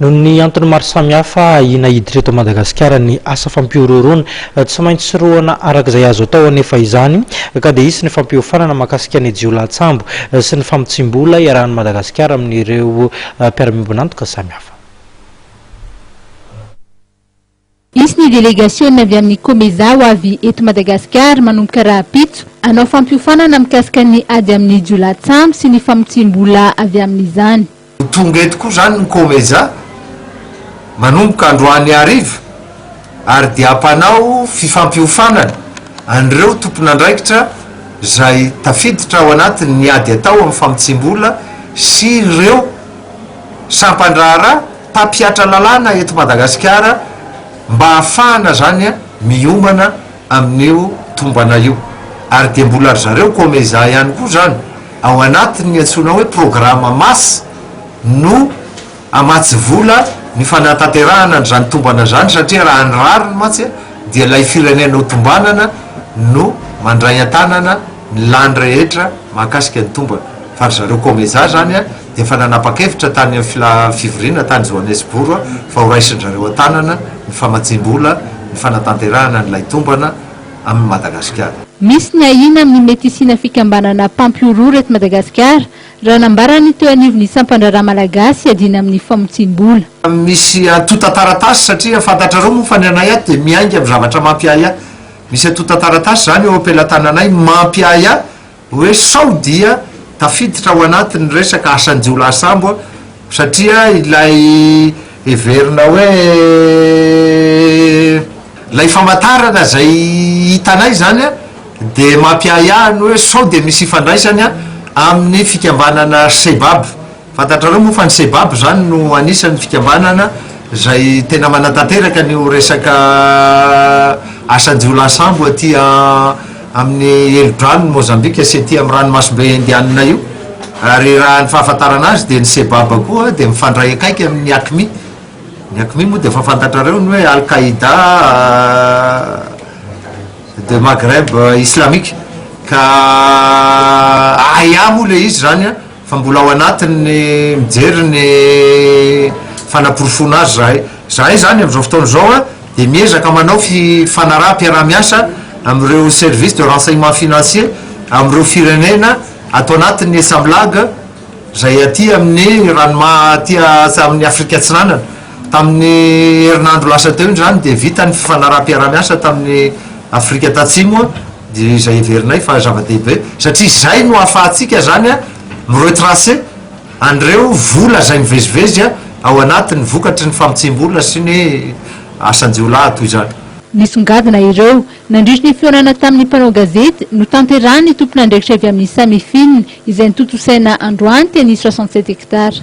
Noho ny antony maro samihafa ahiana hiditra eto Madagasikara ny asa fampihorohoroana. Tsy maintsy roahana araka izay azo atao anefa izany ka dia hisy ny fampiofanana mahakasika ny jiolahatsambo sy ny famotsiam-bola iarahan'i Madagasikara amin'ireo mpiara-miombon'antoka samihafa. Hisy ny delegasiona avy amin'ny Comeza ho avy eto Madagasikara manomboka rahampitso, hanao fampiofanana mikasika ny ady amin'ny jiolahy-tsamy sy ny famotsiam-bola avy amin'izany. Ho tonga eto koa izany ny Comeza manomboka androany hariva ary dia hampanao fifampiofanana an'ireo tompon'andraikitra izay tafiditra ao anatin'ny ady atao amin'ny famotsiam-bola sy ireo sampan-draharaha, mpampihatra lalàna eto Madagasikara mba hahafahana zany miomana amin'io tombana io ary dia mbola ry zareo Comeza ihany koa zany ao anatin'ny antsoina hoe programa mas no hamatsy vola ny fanatanterahana an'izany tombana zany satria raha ny rariny mantsy dia ilay firenena ho tombanana no mandray an-tanana ny lany rehetra mahakasika ny tombana fa ry zareo Comeza zany Efa nanapa-kevitra tany amin'ny fila fivoriana tany Johannesbourg aho fa ho raisin-dry zareo an-tanana ny famatsiam-bola ny fanatanterahana an'ilay tombana amin'i Madagasikara. Misy ny ahiana amin'ny mety hisiana fikambanana mpampihorohoro eto Madagasikara, raha nambarany ny teo anivon'ny sampan-draharaha malagasy iadiana amin'ny famotsiam-bola. Misy antontan-taratasy satria fantatrareo moa fa ny anay ato dia miainga amin'ny zavatra mampiahiahy. Misy antontan-taratasy izany eo am-pelatananay mampiahiahy. Hoe sao dia tafiditra ao anatin'ny resaka asan-jiolahy sambo aho satria ilay heverina hoe ilay famantarana izay hitanay izany dia mampiahiahy ny hoe sao dia misy ifandraisany amin'ny fikambanana Sebab. Fantatrareo moa fa ny sebab izany no anisan'ny fikambanana izay tena manatanteraka an'io resaka asan-jiolahy sambo aty amin'ny helodranon'i Mozambika sy aty amin'ny ranomasimbe Indianina io ary raha ny fahafantarana azy dia ny sebab koa dia mifandray akaiky amin'ny Aqmi. Ny Aqmi moa dia efa fantatrareo ny hoe Al-Qaida de Maghreb islamique ka ahiahy moa ilay izy izany an! Fa mbola ao anatin'ny mijery ny fanaporofoana azy zahay. Zahay zany amin'izao fotoana izao dia miezaka manao fifanaraham-piaraha-miasa amin'ireo services de renseignement financier amin'ireo firenena ato anatin'ny Samlag izay aty amin'ny ranomaha aty amin'ny Afrika Atsinanana. Tamin'ny herinandro lasa teo indry izany dia vita ny fifanaraham-piaraha-miasa tamin'i Afrika Tatsimo, dia izay heverinay fa zava-dehibe, satria izay no ahafahantsika izany mi-retracer an'ireo vola izay mivezivezy ao anatiny vokatry ny famotsiam-bola sy ny asan-jiolahy toy izany. Nisongadina ireo, nandritry ny fihaonana tamin'ny mpanao gazety notanterahin'ny tompon'andraikitra avy amin'ny Samifin, izay notontosaina androany teny Soixante-sept Hectares.